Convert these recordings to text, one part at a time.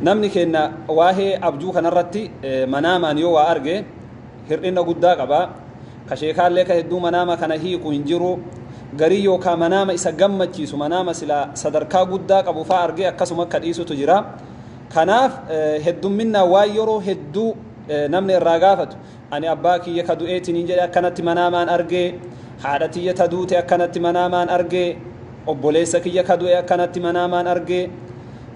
Namni keenya waa'ee abjuu kanarratti manaamaan yoo waa arge hir'ina guddaa qaba. Ka sheekaallee ka hedduu manaama kana hiiku hin jiru. Garii yookaa manaama isa gammachiisu manaama silaa sadarkaa guddaa qabu faa argee akkasuma akka dhiisutu jira. Kanaaf heddumminnaan waan yeroo hedduu namni irraa gaafatu. Ani abbaa kiyya ka du'e isiniin jedhe akkanatti manaamaan arge, haadha tiyya ta duute akkanatti manaamaan arge, obboleessa kiyya ka du'e akkanatti manaamaan arge,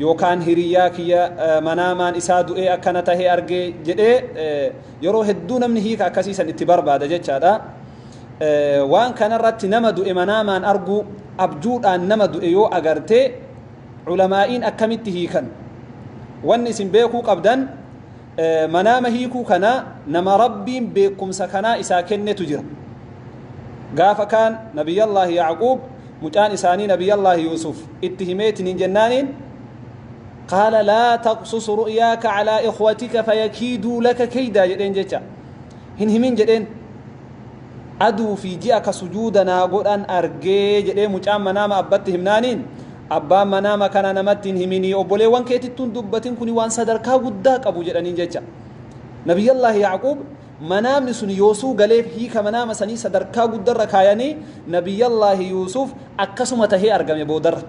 yookaan hiriyyaa kiyya manaamaan isaa du'ee akkana tahee arge jedhee yeroo hedduu namni hiika akkasii san itti barbaada jechaadha. Waan kanarratti nama du'e manaamaan arguu abjuudhaan nama du'e yoo agarte ulamaa'iin akkamitti hiikan? Wanni isin beekuu qabdan Manaama hiikuu kanaa nama Rabbiin beekumsa kanaa isaa kennetu jira. Gaafa kaan Nabiyyallaahi Yaaquub mucaan isaanii Nabiyyallaahi Yuusuf itti himeetiniin jennaaniin qaala laa taqsus ru'yaaka calaa ikhwatika fayakiiduu laka keeydaa jedheen jecha hin himin jedheen aduu fi ji'a ka sujuuda naa godhan argee jedhee mucaan manaama abbatti himnaaniin abbaan manaama kana namatti hin himinii obboleewwan keetittuun dubbatin kuni waan sadarkaa guddaa qabu jedhaniin jecha nabiyyallaahi yaaquub manaamni sun yoosuu galeef hiika manaama sanii sadarkaa guddarra kaayanii nabiyyallaahi yuusuf akkasuma tahee argame boodarra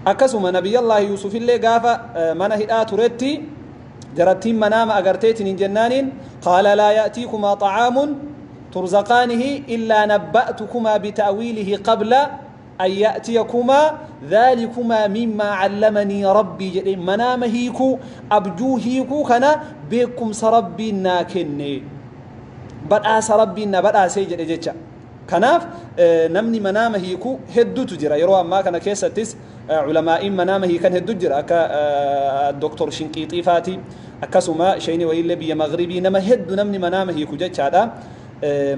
akkasuma nabiyyallaahi yuusufillee gaafa mana hidhaa turetti Jarattiin manaama agartee tiniin jennaaniin qaala laa ya'tiikumaa xa'aamun turzaqaanihi illaa nabba'tukumaa bita'wiilihi qabla an ya'tiyakumaa dhaalikumaa mimmaa callamanii rabbii jedhee manaama hiikuu abjuu hiikuu kana beekumsa rabbiin naa kenne badhaasa rabbiin na badhaasee jedhe jecha kanaaf namni manaama hiikuu hedduutu jira yeroo ammaa kana keessattis Ulamaa'iin manaama hiikan heddu jira akka Doktor Shinqiixii faati akkasuma sheyni wayiillee biyya Maghribii nama heddu namni manaama hiiku jechaadha.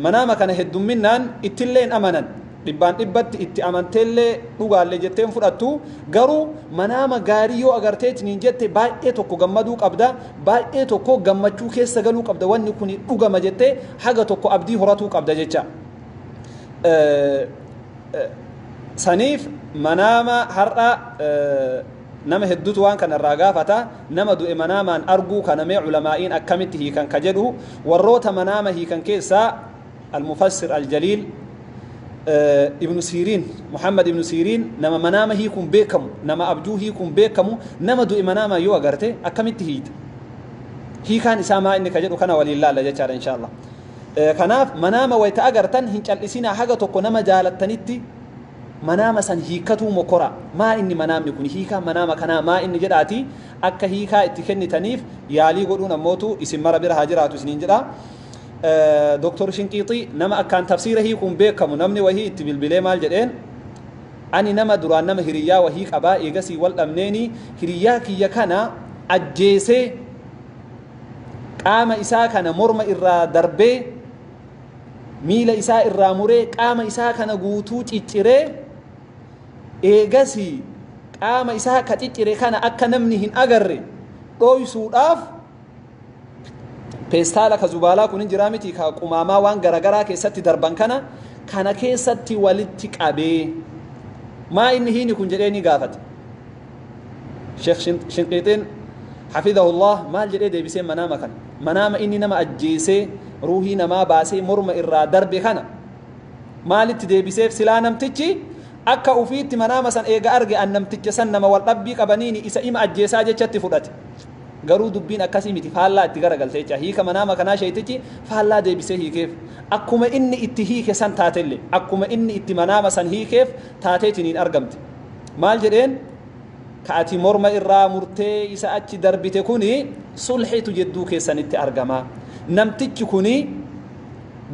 Manaama kana heddumminnaan ittillee hin amanan dhibbaan dhibbatti itti amanteellee dhugaallee jettee hin fudhattu garuu manaama gaarii yoo agarteetiniin jette baay'ee tokko gammaduu qabda baay'ee tokko gammachuu keessa galuu qabda wanni kun dhugama jettee haga tokko abdii horatuu qabda jecha. saniif manaama har'a nama hedduutu waan kana irraa gaafata nama du'e manaamaan arguu kana mee culamaa'iin akkamitti hiikan ka jedhu warroota manaama hiikan keessaa almufassir aljaliil ibnu siiriin muhammad ibnu siiriin nama manaama hiikuun beekamu nama abjuu hiikuun beekamu nama du'e manaamaan yoo agarte akkamitti hiita hiikaan isaa maa inni ka jedhu kana waliin laalla jechaadha inshaa allah Kanaaf manaama wayta agartan hin cal'isinaa haga tokko nama jaalattanitti manaama san hiikkatuu mokkoraa. Maa inni manaamni kun hiikaan manaama kanaa maa inni jedhaatii akka hiikaa itti kennitaniif yaalii godhuun ammootu isin mara bira haa jiraatu isiniin jedha. Doktor Shinqiixii nama akkaan tafsiira hiikuun beekamu namni wahii itti bilbilee maal jedheen ani nama duraan nama hiriyyaa wahii qabaa eegasii wal dhabneenii hiriyyaa kiyya kana ajjeesee qaama isaa kana morma irraa darbee miila isaa irraa muree qaama isaa kana guutuu cicciree eegasii qaama isaa ka ciccire kana akka namni hin agarre dhooysuudhaaf peestaala ka zubaalaa kun hin jiraa miti ka qumaamaa waan garagaraa keessatti darban kana kana keessatti walitti qabee maa inni hiini kun jedhee ni gaafate Sheekh Shinqiixiin Hafidahullah maal jedhee deebisee manaama kana? Manaama inni nama ajjeesee ruuhii namaa baasee morma irraa darbe kana maalitti deebiseef silaa namtichi akka ufiitti manaama san eega arge an namticha san nama wal dhabbii qabaniini isa ima ajjeesaa jechatti fudhate. Garuu dubbiin akkasii miti faallaa itti garagalte jecha hiika manaama kanaa sheeytichi faallaa deebisee hiikeef akkuma inni itti hiike san taatelle akkuma inni itti manaama san hiikeef taateetiniin argamte. maal jedheen ka ati morma irraa murtee isa achi darbite kuni sulhitu jedduu keessanitti argama namtichi kuni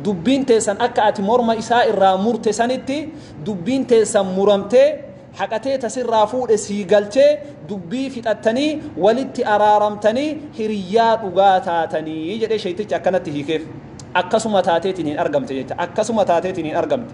dubbiin teessan akka ati morma isaa irraa murte sanitti dubbiin teessan muramtee haqatee tasirraa fuudhe sii galchee dubbii fixattanii walitti araaramtanii hiriyyaa dhugaa taatanii jedhee sheeytichi akkanatti hiikeef akkasuma taateetiin hin argamte jecha akkasuma taateetiin hin argamte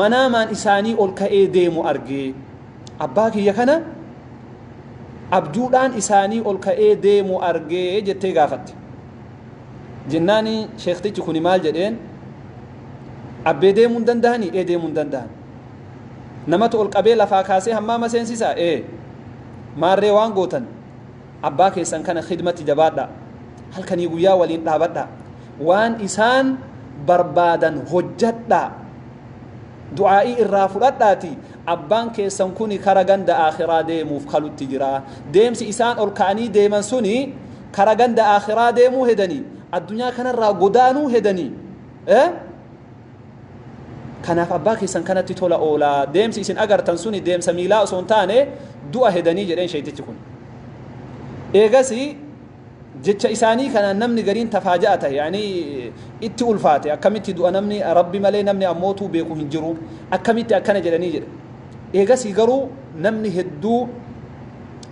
manaamaan isaanii ol ka'ee deemu arge. Abbaa kiyya kana abjuudhaan isaanii ol ka'ee deemu arge jettee gaafatte. Jennaani sheektichi kuni maal jedheen abbee deemuu hin dandahani ee deemuu hin dandahan. Namatu ol qabee lafaa kaasee hammaama seensisaa ee maarree waan gootan Abbaa keessan kana khidmatti jabaadhaa. Halkanii guyyaa waliin dhaabadhaa. Waan isaan barbaadan hojjadhaa. Du'aa'ii irraa fudhadhaatii abbaan keessan kuni kara ganda aakhiraa deemuuf kalutti jira. Deemsi isaan ol ka'anii deeman suni kara ganda aakhiraa deemuu hedanii addunyaa kanarraa godaanuu hedanii. Eh? Kanaaf abbaa keessan kanatti tola oolaa. Deemsi isin agartan suni deemsa miilaa osoo hin taane du'a hedanii jedheen sheeytichi kun. Eegasi jecha isaanii kanaan namni gariin tafaaja'a ta'e yaanii itti ulfaate akkamitti du'a namni rabbi malee namni ammootuu beeku hin jiru akkamitti akkana jedhanii jedhe. Eegasii garuu namni hedduu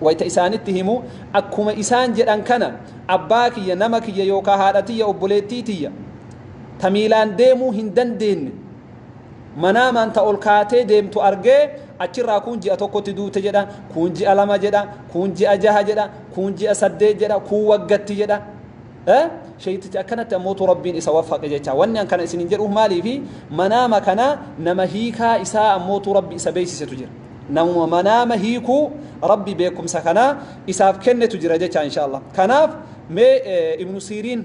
wayita isaanitti himu akkuma isaan jedhan kana abbaa kiyya nama kiyya yookaan haadha tiyya obboleettii tiyya ta miilaan deemuu hin dandeenne manaamaan ta ol kaatee deemtu argee achirraa kuun ji'a tokkotti duute jedha kuun ji'a lama jedha kuun ji'a jaha jedha kuun ji'a saddeet jedha kuun waggatti jedha sheeytichi akkanatti ammootu rabbiin isa waffaqe jecha wanni an kana isinin jedhuuf maaliifi manaama kana nama hiikaa isaa ammootu rabbi isa beeysisetu jira namuma manaama hiikuu rabbi beekumsa kana isaaf kennetu jira jecha insha allah kanaaf mee ibnu siiriin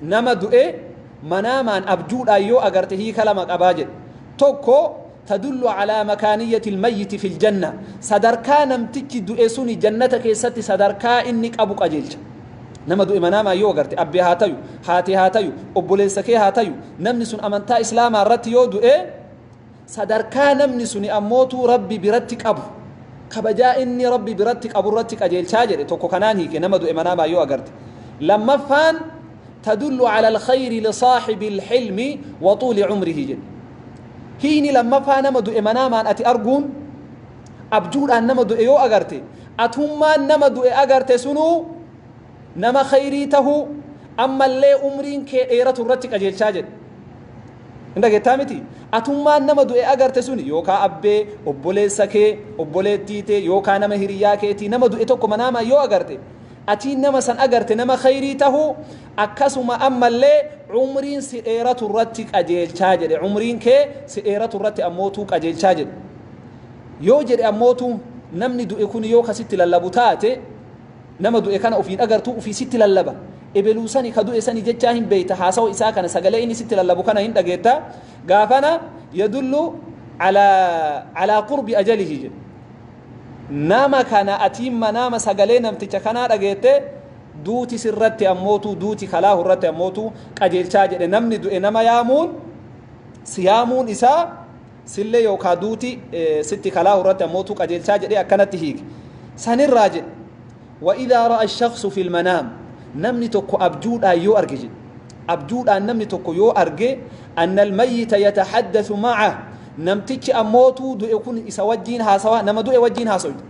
Nama du'e manaamaan, abjuudhaan, yoo agarte hiika lama qaba jedhe. Tokko, tadullu calaa makaaniyyati lmayyiti fi ljanna, sadarkaa namtichi du'e suni jannata keessatti sadarkaa inni qabu qajeelcha. Nama du'e manaamaan yoo agarte, abbee haa tayu, haati haa tayu, obboleessa kee haa tayu, namni sun amantaa Islaamaa irratti yoo du'e, Sadarkaa namni suni ammootuu Rabbi biratti qabu, kabajaa inni Rabbi biratti qaburratti qajeelchaa jedhe tokko kanaan hiike nama du'e manaamaan yoo agarte. Lammaffaan tadullu ala alkhayri lisaahibi alhilmi wa tuuli cumrihi jedhe. Hiikni lammaffaa nama du'e manaamaan ati arguun abjuudhaan nama du'e yoo agarte atummaan nama du'e agarte sunuu nama khayrii tahuu ammallee umriin kee dheeratu irratti qajeelchaa jedhe. Hin dhageettaa miti? Atummaan nama du'e agarte suni yookaa abbee, obboleessa kee, obboleettii tee yookaa nama hiriyyaa keetii nama du'e tokko manaamaan yoo agarte, atii nama san agarte nama khayrii tahuu akkasuma ammallee umriin si dheeratu irratti qajeelchaa jedhe. Umriin kee si dheeratu irratti ammootuu qajeelchaa jedhe. Yoo jedhe ammootuu namni du'e kuni yoo ka sitti lallabu taate, Nama du'e kana ofiin agartuu ufii sitti lallaba. Ebeluu sani ka du'e sani jechaa hin beeyta haasawa isaa kana sagalee inni sitti lallabu kana hin dhageetta. Gaafana yadullu alaa alaa qurbi ajalihi jedhe. Nama kana atiin manaama sagalee namticha kanaa dhageette duuti sirratti ammootu duuti kalaahu irratti ammootu qajeelchaa jedhe namni du'e nama yaamuun siyaamuun isaa Sillee yookaa duuti sitti kalaahu irratti ammoo tu qajeelchaa jedhee akkanatti hiike. San irraa jedhe. Wa'idhaa ra'a shaqsu fil manaam. Namni tokko abjuudhaan yoo arge jedhe. Abjuudhaan namni tokko yoo arge annal mayyita yatahaddathu ma'a. Namtichi ammoo tu du'e kun isa wajjiin haasawaa nama du'e wajjiin haasoyta.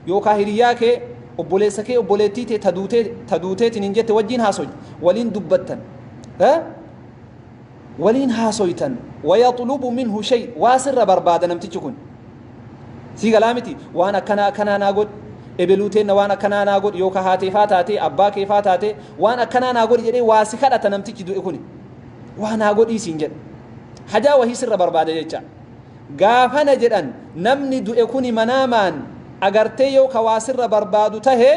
Yookaa hiriyaa kee obboleessa kee obboleettii tee ta duutee ta duuteetiin hin jette wajjiin haasoyta. Waliin dubbattan. waliin haasoytan wayaxlubu minhu shay waa sirra barbaada namtichi kun sii galaa miti waan akkanaa akkanaa naa godhi ebeluu teenna waan akkanaa naa godhi yooka haatee faa taatee abbaa kee faa taatee waan akkanaa naa godhi jedhee waa si kadhata namtichi du'e kuni waa naa godhii siin jedha hajaa wahii sirra barbaada jecha gaafana jedhan namni du'e kuni manaamaan agartee yoo ka waa sirra barbaadu tahee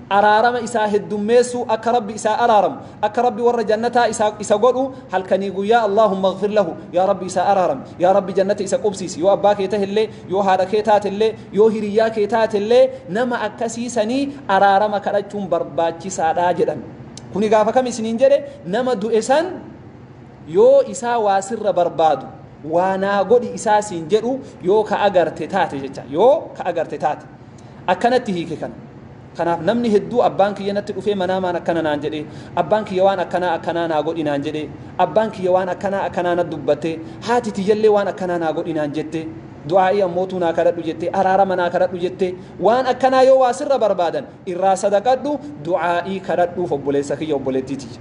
araarama isaa heddummeessuu akka rabbi isaa araaramu akka rabbi warra jannataa isaa isa godhu halkanii guyyaa allaahumma ighfir lahu yaa rabbi isaa araarami yaa rabbi jannata isa qubsiisi yoo abbaa kee tahellee yoo haadha kee taatellee yoo hiriyyaa kee taatellee nama akkasii sanii araarama kadhachuun barbaachisaadha jedhan kuni gaafa kam isiniin jedhe nama du'e san yoo isaa waa sirra barbaadu waa naa godhi isaa siin jedhu yoo ka agarte taate jecha yoo ka agarte taate Akkanatti hiike kana. Kanaaf namni hedduu abbaan kiyya natti dhufee manaamaan akkana naan jedhee, abbaan kiyya waan akkanaa akkanaa naa godhi naan jedhee, abbaan kiyya waan akkanaa akkanaa natti dubbattee, haati tiyyallee waan akkanaa naa godhi naan jettee, du'aa'ii ammootuu naa kadhadhu jettee, araarama naa kadhadhu jettee, waan akkanaa yoo waa sirra barbaadan irraa sadaqadhu, du'aa'ii kadhadhuuf obboleessa kiyya obboleettii tiyya.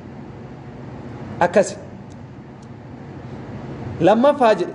Akkasi. Lammaffaa jedhe.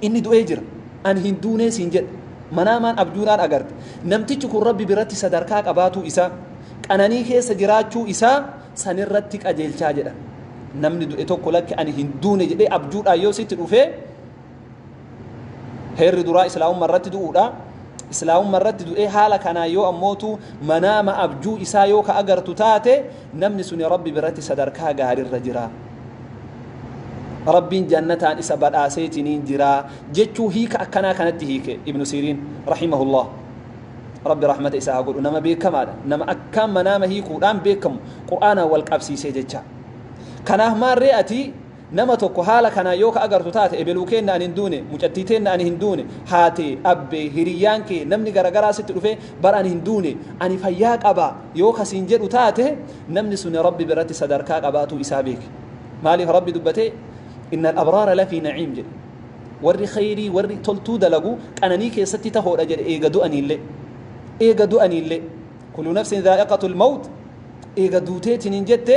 Inni du'ee jira. Ani hin duunee siin jedhe. Manaamaan abjuunaan agarte. Namtichi kun Rabbi biratti sadarkaa qabaatuu isaa, qananii keessa jiraachuu isaa sanirratti qajeelchaa jedhan. Namni du'e tokko lakki ani hin duune jedhee abjuudhaan yoo sitti dhufee heerri duraa islaamumma irratti du'uudha. Islaamumma irratti du'ee haala kanaan yoo ammootu manaama abjuu isaa yoo ka agartu taate Namni suni Rabbi biratti sadarkaa gaarirra jira. Rabbiin jannataan isa badhaaseetiniin jira jechuu hiika akkanaa kanatti hiike Ibnu Siiriin rahimahullah. Rabbi rahmata isaa haa godhu nama beekamaadha. Nama akkaan manaama hiikuudhaan beekamu Qur'aanaan wal qabsiisee jecha. Kanaaf maarree ati Nama tokko haala kanaan yoo ka agartu taate ebeluu keenna ani hin duune, mucattii teenna ani hin duune, haatee, abbee, hiriyyaan kee, namni gara garaa sitti dhufee bar ani hin duune, ani fayyaa qaba yoo ka siin jedhu taate namni suni Rabbi biratti sadarkaa qabaatuu isaa beeki. Maaliif Rabbi dubbatee inna al-abraara lafii na'iim jedhe. Warri kheyrii warri toltuu dalagu qananii keessatti tahoodha jedhe eega du'aniillee. Eega du'aniillee. Kullu nafsin dhaa'iqatul mawt eega duuteetiniin jette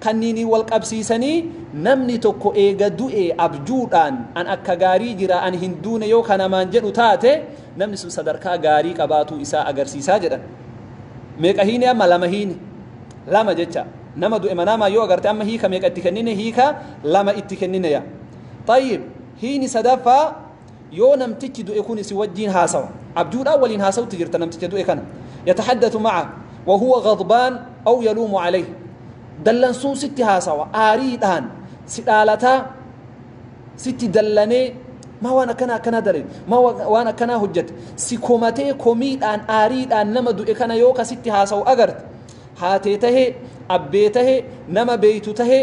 Kanniiniin wal qabsiisanii namni tokko eega du'e abjuudhaan an akka gaarii jira an hin duune yoo ka namaan jedhu taate namni sun sadarkaa gaarii qabaatuu isaa agarsiisaa jedhan. Meeqa hiine amma lama hiine lama jecha nama du'e manaamaan yoo agarte amma hiika meeqa itti kennine hiika lama itti kennineya. Tayyib hiini sadaffaa Yoo namtichi du'e kuni si wajjiin haasawa, abjuudhaan waliin haasawutti jirta namticha du'e kana. Yatahaddathu maca wa huwa ghadbaan aw yaluumu calayhi. Dallansuun sitti haasawa, aariidhaan si dhaalataa, sitti dallanee maa waan akkanaa akkanaa dalayde, maa waan akkanaa hojjate, si komatee komiidhaan aariidhaan nama du'e kana yoo ka sitti haasawu agarte, haatee tahee, abbee tahee, nama beeytu tahee,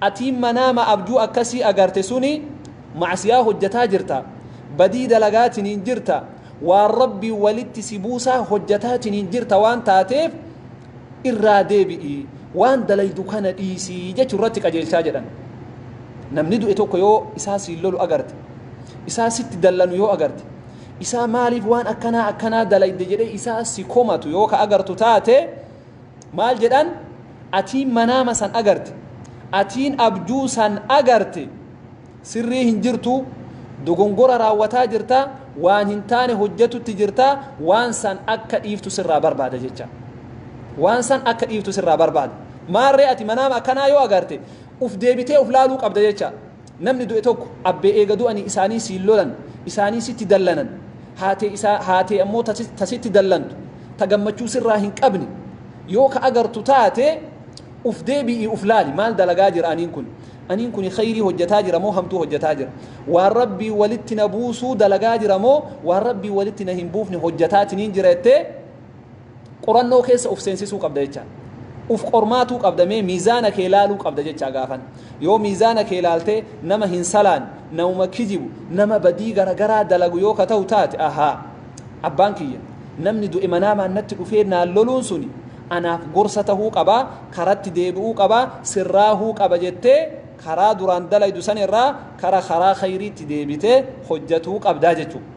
Atii manaama abjuu akkasii agarte suni macsiyaa hojjataa jirta badii dalagaatiniin jirta waan rabbiin walitti si buusaa hojjataatiniin jirta waan taateef irraa deebi'i waan dalaydu kana dhiisi jechu irratti qajeelchaa jedhan namni du'e tokko yoo isaa siin lolu agarte isaa sitti dallanu yoo agarte isaa maaliif waan akkanaa akkanaa dalayde jedhee isaa si komatu yoo ka agartu taate Maal jedhan? Atiin manaama san agarte, atiin abjuu san agarte sirrii hin jirtuu, dogongora raawwataa jirta, waan hin taane hojjatutti jirta, waan san akka dhiiftu sirraa barbaada jecha. Waan san akka dhiiftu sirraa barbaada. Maarree ati manaama akkanaa yoo agarte, uf deebitee uf laaluu qabda jecha. Namni du'e tokko abbee eega du'anii isaanii siin lolan, isaanii sitti dallanan, haatee isaa, haatee ammoo ta si, ta sitti dallantu, ta gammachuu sirraa hin qabne yoo ka agartu taate, uf deebi'ii uf laali, maal dalagaa jira aniin kuni? Aniin kuni kheyrii hojjataa jira moo hamtuu hojjataa jira? Waan Rabbiin walitti na buusuu dalagaa jira moo waan Rabbiin walitti na hin buufne hojjataatiniin jira jettee, qorannoo keessa uf seensisuu qabda jecha uf qormaatuu qabda mee miizaana kee laaluu qabda jecha gaafan yoo miizaana kee laaltee nama hin salaan nama kijibu nama badii garagaraa dalagu yoo ka ta'u taate ahaa abbaan kiyya namni du'e manaamaan natti dhufee naan loluun suni anaaf gorsa ta'uu qabaa karatti deebi'uu qabaa sirraahuu qaba jettee karaa duraan dalaydu san irraa kara karaa khayriitti deebitee hojjatuu qabdaa jechuudha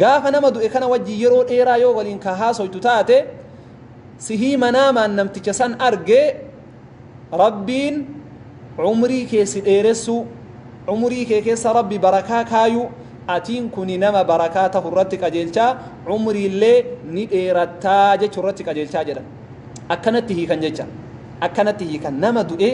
gaafa nama du'e kana wajjin yeroo dheeraa yoo waliin ka haasoytu taate sihii manaamaan namticha san argee rabbiin umrii kee si dheeressuu umrii kee keessa rabbi barakaa kaayuu atiin kuni nama barakaa tahu irratti qajeelchaa umriillee ni dheerattaa jechuu irratti qajeelchaa jedha akkanatti hiikan jecha akkanatti hiikan nama du'e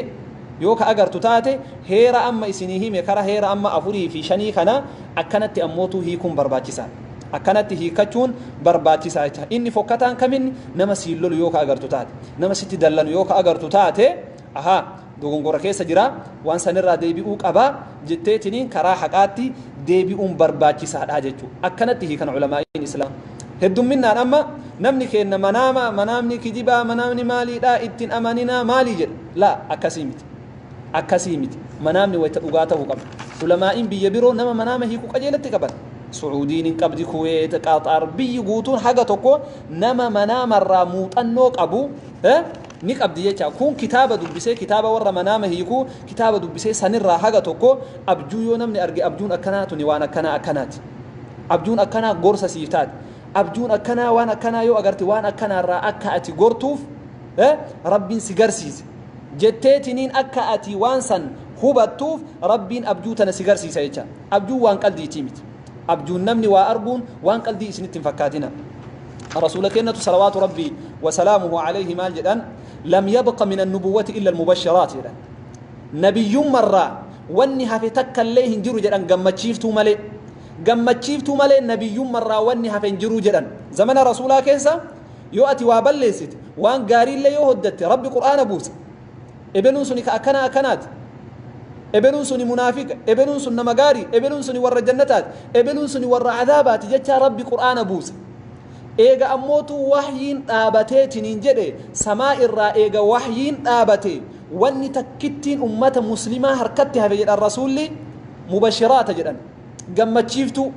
yoo ka agartu taate heera amma isinii hime kara heera amma afurii fi shanii kana Akkanatti ammootuu hiikuun barbaachisaadha. Akkanatti hiikkachuun barbaachisaa jecha. Inni fokkataan kaminni nama siin lolu yoo ka agartu taate, nama sitti dallanu yoo ka agartu taate, ahaa, dogongora keessa jira, waan sanirraa deebi'uu qaba jetteetiniin karaa haqaatti deebi'uun barbaachisaadha jechuu. Akkanatti hiikan ulamaa'iin Islaam. Heddumminnaan amma namni keenna manaama, manaamni kijibaa, manaamni maaliidhaa, ittin amaninaa maalii jedha. Laa, akkasii miti. Akkasii miti. Manaamni wayta dhugaa ta'uu qaba. Ulamaa'iin biyya biroo nama manaama hiiku qajeelatti qaban. Su'uudiin hin qabdi, Kuweet, Qaxaar, biyyi guutuun haga tokko nama manaamarraa muuxannoo qabu eh, ni qabdi jecha. Kun kitaaba dubbisee, kitaaba warra manaama hiiku, kitaaba dubbisee sanirraa haga tokko abjuu yoo namni arge abjuun akkanaa tuni waan akkanaa akkanaati. Abjuun akkanaa gorsa siif taati. Abjuun akkanaa waan akkanaa yoo agarte waan akkanaarraa akka ati gortuuf eh, Rabbiin si garsiise. jetteetiniin akka ati waan san hubattuuf Rabbiin abjuu tana si garsiisa jecha. Abjuun waan qaldiitii miti. Abjuun namni waa arguun waan qaldii isinitti hin fakkaatina. Rasuula kennatu salawaatu Rabbii wasalaamuhu alayhi maal jedhan lam yabqa min annubuwwati illa almubashiraat jedhan. Nabiyyummarraa wanni hafe takkallee hin jiru jedhan gammachiiftuu malee. Gammachiiftuu malee nabiyyummarraa wanni hafe hin jiru jedhan. Zamana Rasuulaa keessa yoo ati waa balleessite waan gaariillee yoo hojjatte rabbi qur'aana buusa ebeluun suni ka akkana akkanaati ebeluun suni munaafiqa ebeluun sun nama gaarii ebeluun suni warra jannataati ebeluun suni warra adaabaati jechaa rabbi qur'aana buusa eega ammootu wahyiin dhaabateetiniin jedhe samaa irraa eega wahyiin dhaabate wanni takkittiin ummata muslimaa harkatti hafe jedhan rasuulli mubashiraata jedhan gammachiiftuu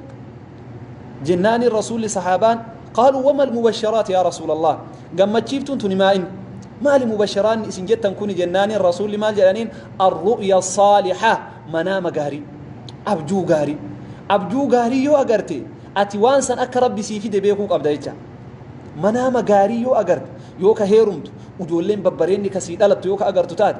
jennaani rasuulli sahaabaan qaaluu wama almubasharaat yaa rasuulallah gammachiiftuun tuni maa inni maali mubasharaanni isin jettan kuni jennaani rasuulli maal jedhaniin arru'ya saaliha manaama gaarii abjuu gaarii abjuu gaarii yoo agarte ati waan san akka rabbi sii fide beekuu qabda jecha manaama gaarii yoo agarte yoo ka heerumtu ujoolleen babbareenni kasii dhalattu yoo ka agartu taate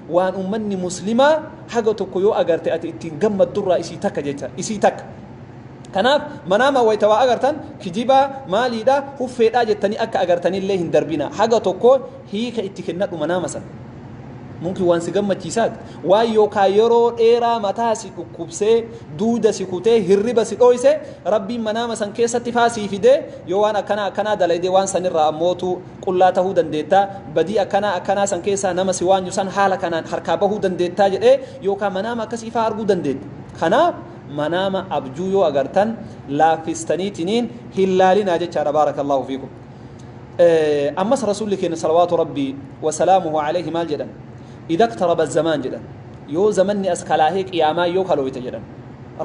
waan ummanni muslimaa haga tokko yoo agarte ati ittiin gammaddurraa isii takka jecha isii takka kanaaf manaama wayta waa agartan kijibaa maaliidha huffeedhaa jettanii akka agartanillee hin darbina haga tokko hiika itti kennadhu manaama san mumkin waan si gammachiisaati waan yookaa yeroo dheeraa mataa si dhukkubsee duuda si kutee hirriba si dhooyse rabbiin manaama san keessatti faa sii fidee yoo waan akkanaa akkanaa dalayde waan sanirraa ammootu qullaa tahuu dandeettaa, badii akkanaa akkanaa san keessaa nama si waanyu san haala kanaan harkaa bahuu dandeettaa jedhee yookaa manaama akkasii faa arguu dandeetta. Kanaaf manaama abjuu yoo agartan laaffistaniitiniin hin laalinaa jechaadha baarakallaahu fiikum. Ammas rasuulli keenya salawaatu rabbii wasalaamuhu alayhi maal jedhan idha iqtaraba zamaan jedhan yoo zamanni as kalaahee qiyaamaan yoo kalooyte jedhan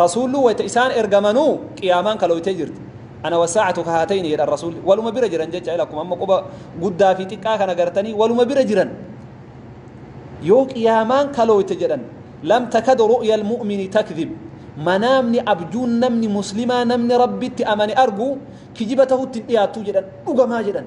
rasuullu wayta isaan ergamanuu qiyaamaan kalooytee jirti. Ana wasaacatu ka haatayni jedhan rasuulli waluma bira jiran jecha ila akkuma amma quba guddaa fi xiqqaa kana gartanii waluma bira jiran yoo qiyaamaan kalooyte jedhan lam takadu ru'ya almu'mini takdhib manaamni abjuun namni muslimaa namni rabbitti amane argu kijiba tahutti hin dhiyaattuu jedhan dhugamaa jedhan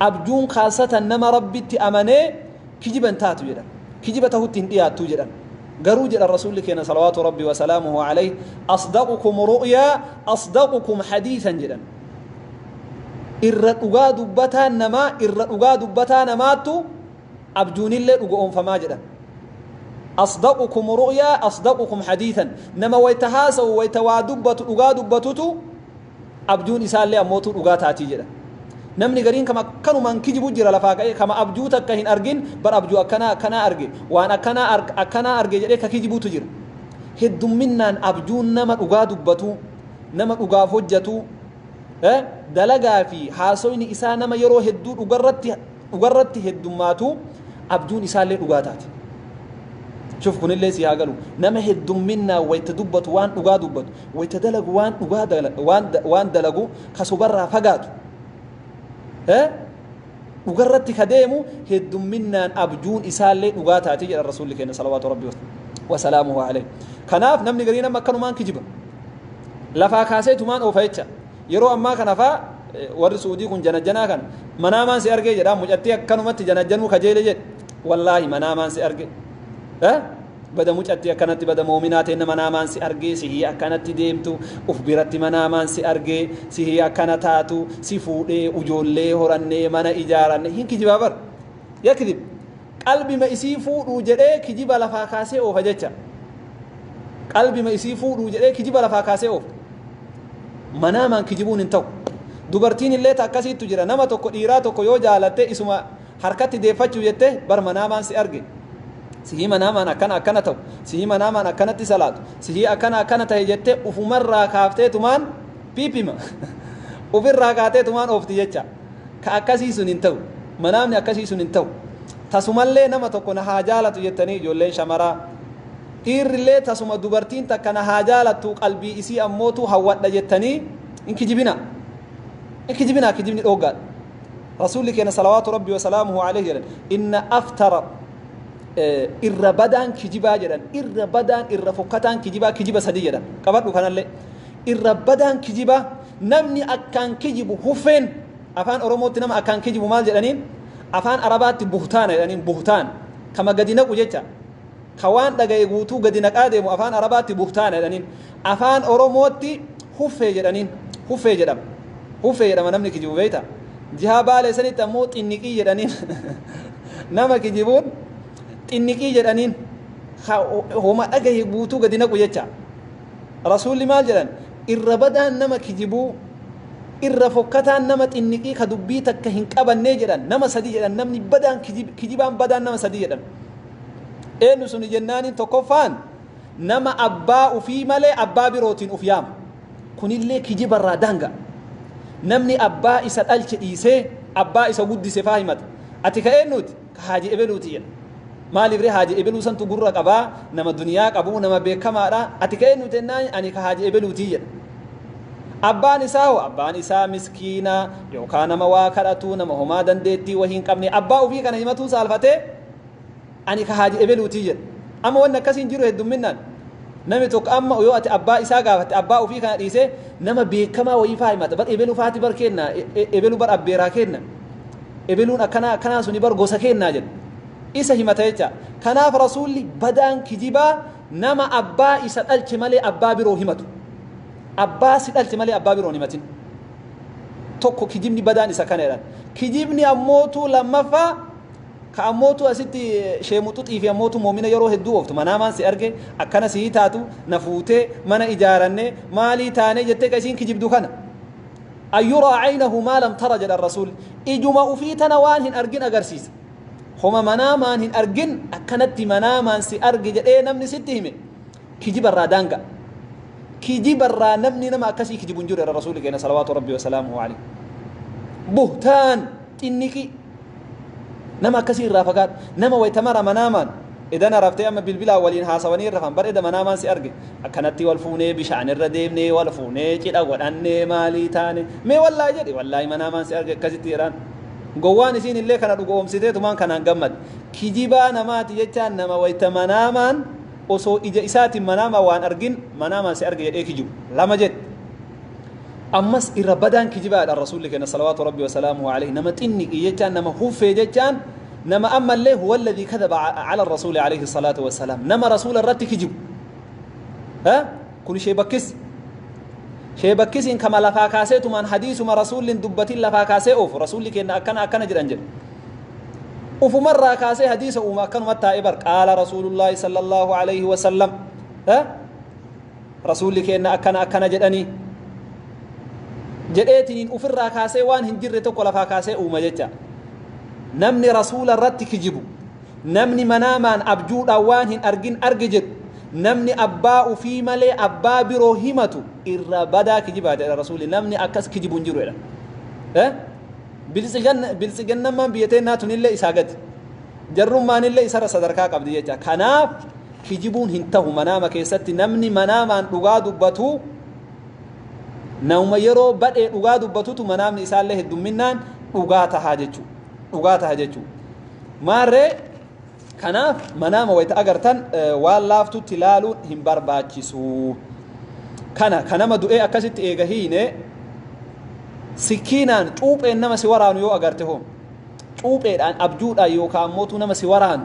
abjuun khaasatan nama rabbitti amanee kijiba hin taatu jedhan kijiba tahutti hin dhiyaattu jedhan garuu jedhan rasuulli keenya salawaatu rabbi wasalaamuhu alayhi asdaqukum ru'yaa asdaqukum hadiisan jedhan irra dhugaa dubbataa namaa irra dhugaa dubbataa namaattu abjuunillee dhugoomfamaa jedhan asdaqukum ru'yaa asdaqukum hadiisan nama wayta haasawu wayta waa dubbatu dhugaa dubbatutu abjuun isaallee ammootuu dhugaa taatii jedhan. Namni gariin kama akkanumaan kijibu jira lafaa ka'ee kama abjuu takka hin argin bar abjuu akkanaa akkanaa arge waan akkanaa akkanaa arge jedhee ka kijibutu jira. Heddumminnaan abjuun nama dhugaa dubbatu nama dhugaaf hojjatu dalagaa fi haasoyni isaa nama yeroo hedduu dhugarratti dhugarratti heddummaatu abjuun isaallee dhugaa taati. Shuf kunillee si haa galu. Nama heddumminnaan wayta dubbatu waan dhugaa dubbatu, wayta dalagu waan dhugaa dala- waan da- waan dalagu ka sobarraa fagaatu. Eh? Dhugarratti ka deemu heddumminnaan abjuun isaallee dhugaa taati jedha Rasuulli keenya salawaatu Rabbi wasalaamuhu alayhi. Kanaaf namni garii nama akkanumaan kijiba. Lafaa kaasee tumaan oofa jecha. Yeroo ammaa kana faa warri suudii kun janajjanaa kan manaamaan si argee jedhaa mucattii akkanumatti janajjanuu kajeele jedhe wallaahi manaamaan si arge bada mucattii akkanatti bada moominaa teenna manaamaan si argee sihii akkanatti deemtu uf biratti manaamaan si argee sihii akkana taatu si fuudhee ujoollee horannee mana ijaaranne hin kijibaa bar yakidib Qalbima isii fuudhuu jedhee kijiba lafaa kaasee oofa jecha. Qalbima isii fuudhuu jedhee kijiba lafaa kaasee oofa. Manaamaan kijibuun hin ta'u. Dubartiin illee ta akkasiittu jira. Nama tokko dhiiraa tokko yoo jaalatte isuma harkatti deeffachuu jette bar manaamaan si arge. Sihii manaamaan akkana akkana ta'u. Sihii manaamaan akkanatti salaatu. Sihii akkana akkana ta'e jettee ufumarraa kaafteetumaan piipima. Ufirraa kaateetumaan oofti jecha. Ka akkasii sun hin ta'u. Manaamni akkasii sun hin ta'u. Tasumallee nama tokko na haa jaalatu jettanii ijoolleen shamaraa, dhiirrillee tasuma dubartiin takka na haa jaalattuu qalbii isii ammootu hawwadha jettanii hin kijibinaa. Hin kijibinaa kijibni dhooggaadha. Rasuulli keenya salawaatu rabbi wasalaamuhu alayhi jedhan inna aftara irra badaan kijibaa jedhan irra badaan irra fokkataan kijibaa kijiba sadii jedhan qabadhu kanallee irra badaan kijibaa Namni akkaan kijibu huffeen Afaan Oromootti nama akkaan kijibu maal jedhaniin? Afaan Arabaatti buhtaana jedhaniin buhtaan kama gadi naqu jecha ka waan dhaga'e guutuu gadi naqaa deemu Afaan Arabaatti buhtaana jedhaniin Afaan Oromootti huffee jedhaniin huffee jedhama huffee jedhama namni kijibu beekta jihaa baalee sanitti ammoo xinniqii jedhaniin nama kijibuun xinniqii jedhaniin ka homa dhaga'e guutuu gadi naqu jecha Rasuulli maal jedhan? Irra badaan nama kijibuu, irra fokkataan nama xinniqii ka dubbii takka hin qabannee jedhan nama sadii jedhan namni badaan kijib, kijibaan badaan nama sadii jedhan. Eenyu suni jennaaniin tokkoffaan nama abbaa ufii malee abbaa birootiin uf yaama. Kunillee kijibarraa daanga. Namni abbaa isa dhalche dhiisee abbaa isa guddise faa himata. Ati ka eennuuti? ka haaji ebeluuti jedha maaliif ree haaji ebeluu santu gurra qabaa nama duniyaa qabuu nama beekamaadha ati ka eenyu jennaan ani ka haaji ebeluuti jedha abbaan isaa hoo abbaan isaa miskiina yookaan nama waa kadhatuu nama homaa dandeettii wahii hin qabne abbaa ofii kana himatuu saalfatee ani ka haaji ebeluuti jedha amma wanni akkasii hin jiru heddumminnaan namni tokko amma yoo ati abbaa isaa gaafatte abbaa ofii kana dhiisee nama beekamaa wayii faa himata bar ebelu faati bar kenna ebelu bar abbeeraa kenna ebeluun akkanaa akkanaa suni bar gosa keennaa jedhu isa himata jecha kanaaf rasuulli badaan kijibaa nama abbaa isa dhalche malee abbaa biroo himatu abbaa si dhalche malee abbaa biroon himatin tokko kijibni badaan isa kana jedhan kijibni ammootuu lammaffaa ka ammootu asitti sheemuxuxii fi ammootu moomina yeroo hedduu ooftu manaamaan si arge akkana sii taatu na fuutee mana ijaaranne maalii taanee jettee ka isiin kijibdu kana An yuraa aynahu maa lam tara jedhan Rasuulli. Ijuma ufii tana waan hin argin agarsiisa. Homa manaamaan hin argin akkanatti manaamaan si arge jedhee namni sitti hime kijiba irraa daanga'a. Kijiba irraa namni nama akkasii kijibu hin jiru jedhan Rasuulli keenya salawaatu Rabbii wa salaamuhu alayhi. Buhtaan xinniqii. Nama akkasii irraa fagaadhu. Nama wayta mara manaamaan edana raftee amma bilbilaan waliin haasawanii rafan bar eda manaamaan si arge akkanatti wal fuunee bishaan irra deemnee wal fuunee cidha godhannee maalii taane mee wallaahi jedhi wallaahi manaamaan si arge akkasitti jedhaan. Gowwaan isiin illee kana dhugoomsiteetumaan kanaan gammade. Kijibaa namaati jechaan nama wayta manaamaan osoo ija isaatiin manaamaan waan argin manaamaan si arge jedhee kijibu. Lama jedhe. ammas irra badaan kijibaadha rasuulli kenna salawaatu rabbi wasalaamuhu alayhi nama xinniqii jechaan nama huffee jechaan nama ammallee huwa alladhii kadaba ala rasuuli alayhi salaatu wasalaam nama rasuula irratti kijibu ha kun ishee bakkis ishee bakkisiin kama lafaa kaasee tumaan hadiisuma rasuulliin dubbatiin lafaa kaasee oofu rasuulli kenna akkana akkana jedhan jedhe ufumarraa kaasee hadiisa uuma akkanuma taa'e bar qaala rasuulullaahi sallallahu alayhi wasallam ha rasuulli keenna akkana akkana jedhanii jedheetiniin ufirraa kaasee waan hin jirre tokko lafaa kaasee uuma jecha namni rasuula irratti kijibu namni manaamaan abjuudhaan waan hin argin arge jedhu namni abbaa ufii malee abbaa biroo himatu irra badaa kijibaa jedha rasuulli namni akkas kijibu hin jiru jedha Eh? Biltsigan- biltsiginnammaan biyya teennaa tunillee isaa gadi jarrummaanillee isarra sadarkaa qabdi jecha kanaaf kijibuun hin tahu manaama keessatti namni manaamaan dhugaa dubbatu nama yeroo badhee dhugaa dubbatutu manaamni isaallee heddumminnaan dhugaa tahaa jechuu dhugaa taha jechuu maarree kanaaf manaama wayta agartan waan laaftutti laaluun hin barbaachisu kana ka nama du'ee akkasitti eega hiine sikiinaan cuupheen nama si waraanu yoo agarte hoo cuupheedhaan abjuudhaan yookaan mootuu nama si waraanu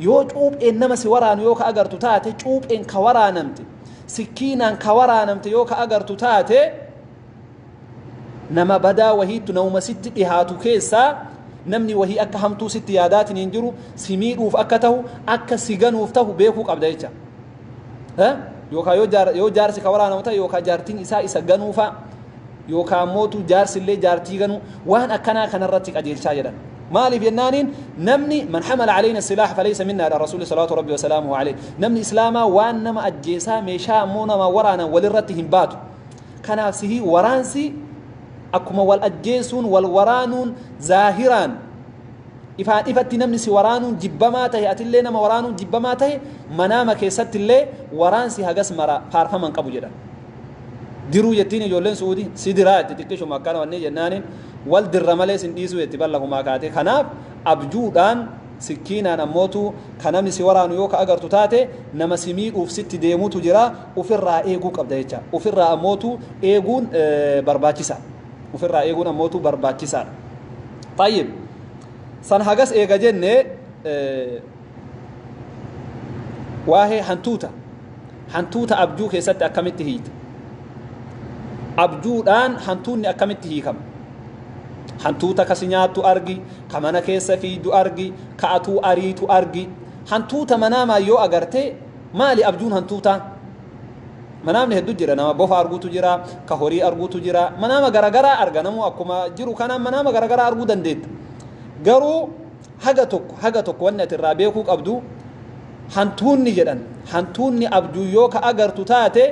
Yoo cuupheen nama si waraanu yoo ka agartu taate, cuupheen ka waraanamte, sikkiinaan ka waraanamte yoo ka agartu taate, nama badaa wahiittu namuma sitti dhihaatu keessaa namni wahii akka hamtuu sitti yaadaatiin hin jiru, si miidhuuf akka tahu, akka si ganuuf tahu beekuu qabda jecha. yookaan yoo jaarsi ka waraanamu ta'e yookaan jaartiin isaa isa ganuu fa'a yookaan mootu jaarsi illee jaartii ganuu waan akkanaa kanarratti qajeelchaa jedhan. maaliif jennaaniin namni man hamala alayna silaah falaysa minna dha rasuulli salaatu rabbi wasalaamuhu alayh namni islaamaa waan nama ajjeesaa meeshaa ammoo nama waraanan walirratti hin baatu kanaaf sihii waraansi akkuma wal ajjeesuun wal waraanuun zaahiraan ifaan ifatti namni si waraanuun jibbamaa tahe atillee nama waraanuun jibbamaa tahe manaama keessatti illee waraansi hagas mara faarfaman qabu jedhan diruu jettiin ijoolleen suudi si diraa itti xiqqishuma akkana wannee jennaaniin wal dirra malee sin dhiisuu jetti ballakumaa kaatee kanaaf abjuudhaan sikkiinaan ammootu ka namni si waraanu yoo ka agartu taate nama si miidhuuf sitti deemutu jira ofirraa eeguu qabda jecha ofirraa ammootu eeguun barbaachisa. Ofirraa eeguun ammootu barbaachisaadha. Xayyib. San hagas eega jenne waa'ee hantuuta. Hantuuta abjuu keessatti akkamitti hiikta? Abjuudhaan hantuunni akkamitti hiikama? Hantuuta kasi nyaattu argi, ka mana keessa fiigdu argi, ka atuu ariitu argi. Hantuuta manaamaan yoo agarte maali abjuun hantuutaa? Manaamni heddu jira nama bofa argutu jira ka horii argutu jira manaama garagaraa arga namuu akkuma jiru kanaan manaama garagaraa arguu dandeetta garuu haga tokko haga tokko wanni ati irraa beekuu qabdu hantuunni jedhan hantuunni abjuu yoo ka agartu taate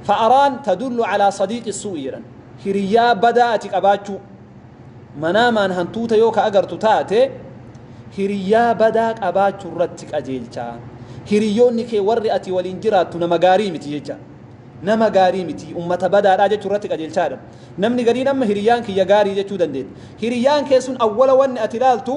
fa'araan tadullu alaa sadiiqi suu'i jedhan hiriyyaa badaa ati qabaachuu Manaamaan hantuuta yoo ka agartu taate, hiriyyaa badaa qabaachuu irratti qajeelcha. Hiriyyoonni kee warri ati waliin jiraattu nama gaarii miti jecha. Nama gaarii miti, ummata badaadhaa jechuu irratti qajeelchaa jedhama. Namni gariin amma hiriyyaan kiyya gaarii jechuu dandeetta. Hiriyyaan kee sun awwala wanni ati ilaaltu,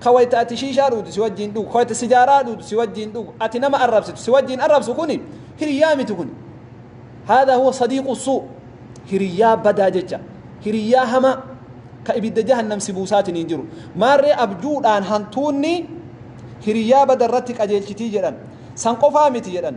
Ka wayta ati shiishaa dhuudu si wajjiin dhugu, ka wayta sijaaraa dhuudu si wajjiin dhugu, ati nama arrabsitu si wajjiin arrabsu kuni hiriyyaa miti kuni. Haadha huwa sadiiqu suu. Hiriyyaa badaa jecha. Hiriyyaa hamaa ka ibidda jahannam si buusaatiin hin jiru. Maarree abjuudhaan hantuunni hiriyyaa bada irratti qajeelchitii jedhan. San qofaa miti jedhan.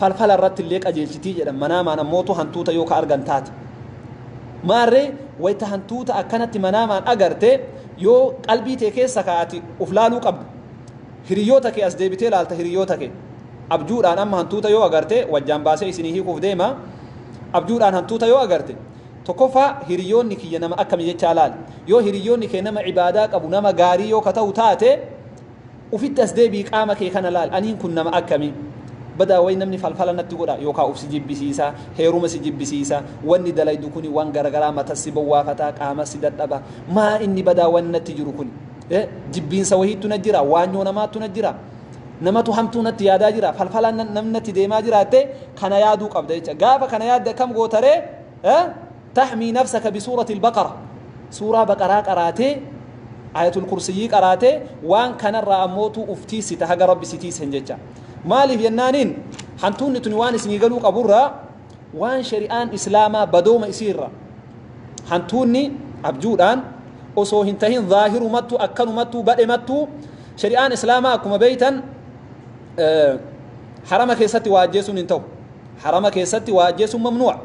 falfala irratti illee qajeelchitii jedhan manaamaan ammootu hantuuta yoo ka argan taate maarree wayta hantuuta akkanatti manaamaan agarte yoo qalbii tee keessa kaa'ati uf laaluu qabda hiriyoota kee as deebitee laalta hiriyoota kee abjuudhaan amma hantuuta yoo agarte wajjaan baasee isinii hiikuuf deema abjuudhaan hantuuta yoo agarte tokkoffaa hiriyoonni kiyya nama akkami jechaa laali yoo hiriyoonni kee nama ibaadaa qabu nama gaarii yoo ka ta'u taate Ufitti as deebi'i qaama kee kana laal aniin kun nama akkamii? Badaa wayi namni falfala natti godha yookaa uf si jibbisiisa, heeruma si jibbisiisa, wanni dalaydu kuni wan garagaraa matas si bowwaafata, qaamas si dadhaba. Maa inni badaa wanni natti jiru kuni? Eh jibbiinsa wahiittu na jira, waanyoo namaattu na jira, namatu hamtuu natti yaadaa jira, falfalaan namni natti deemaa jira jettee kana yaaduu qabda jecha. Gaafa kana yaadde akkam goota ree? Eh? Tahmii nafsaka bisuuratil baqara suuraa baqaraa qaraatee ayatul kursiyyii qaraatee waan kanarraa ammootuu uf tiissita haga rabbi si tiissen jecha maaliif jennaaniin hantuunni tuni waan isinii galuu qaburraa waan shari'aan islaamaa badooma isiirra hantuunni abjuudhaan osoo hin tahin zaahirumattu akkanumattu badhemattu shari'aan islaamaa akkuma beeytan harama keessatti waa ajjeesuun hin ta'u Harama keessatti waa ajjeesuun mamnuu'a.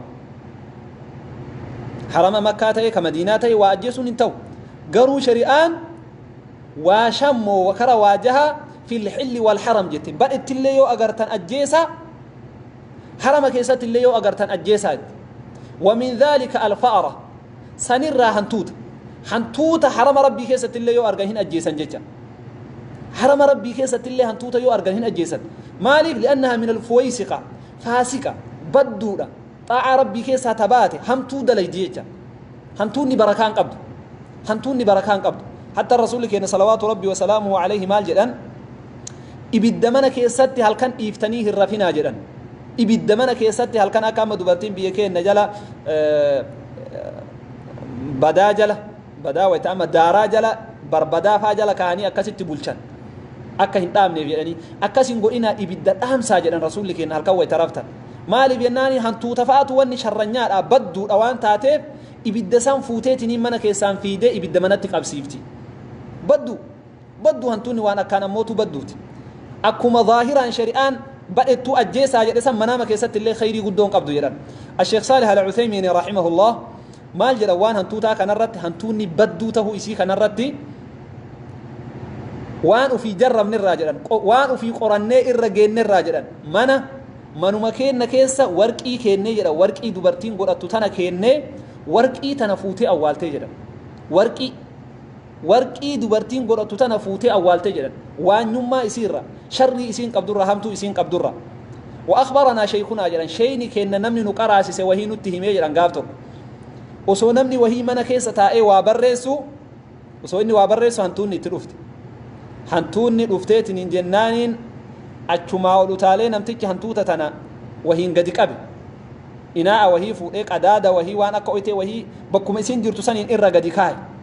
Harama makkaa ta'e ka madiinaa ta'e waa ajjeesuun hin ta'u. Garuu shari'aan waa shammoo wakara waa jahaa fil xilli wal haram jette. Badhetti illee yoo agartan ajjeesaa harama keessatti illee yoo agartan ajjeesaa jette. Wa min dhaalika alfa'ara. sanirraa hantuuta hantuuta harama rabbii keessatti illee yoo argan hin ajjeesan jecha harama rabbii keessatti illee hantuuta yoo argan hin ajjeesan maaliif li'annaha min alfuwaysiqa faasiqa badduudha xaa'aa rabbii keessaa tabaate hamtuu dalaydi jecha hantuunni barakaan qabdu hantuunni barakaan qabdu hatta rasuulli keenya salawaatu rabbi wasalaamuhu alayhi maal jedhan ibidda mana keessatti halkan dhiiftanii hin rafinaa jedhan Ibidda mana keessatti halkan akka amma dubartiin biyya keenya jala badaa jala badaa wayita amma daaraa jala barbadaa faa jala kaanii akkasitti bulchan akka hin dhaamneef jedhanii akkas hin godhinaa ibidda dhaamsaa jedhan rasuulli keenya halkan wayita raftan maaliif jennaani hantuuta fa'aatu wanni sharranyaadha badduudha waan taateef ibidda san fuuteetiniin mana keessaan fiidee ibidda manatti qabsiifti baddu Baddu hantuunni waan akkaan ammootu badduuti. Akkuma zaahiraan shari'aan badhettuu ajjeesaa jedhe san manaama keessatti illee khayrii guddoo hin qabdu jedhan. Asheekh Saalih Al-Uthaymiin rahimahullah maal jedhan waan hantuutaa kanarratti hantuunni badduu tahuu isii kanarratti waan ofii jarrabne irraa jedhan waan ofii qorannee irra geenne irraa jedhan mana manuma keenna keessa warqii keennee jedhan warqii dubartiin godhattu tana keennee warqii tana fuutee awwaaltee jedhan warqii Warqii dubartiin godhattu tana fuutee awwaalte jedhan. Waanyummaa isii irraa, sharrii isiin qabdu irraa, hamtuu isiin qabdu irraa. Wa akhbaranaa sheykhunaa jedhan, sheeyni keenna namni nu qaraasise wahii nutti himee jedhan gaaf tokko. Osoo namni wahii mana keessa taa'ee waa barreessu, osoo inni waa barreessu hantuunni itti dhufte. Hantuunni dhufteetiniin jennaaniin achumaa ol utaalee namtichi hantuuta tana wahiin gadi qabe. Inaa'a wahii fuudhee qadaada wahii waan akka oytee wahii bakkuma isiin jirtu saniin irra gadi kaaye.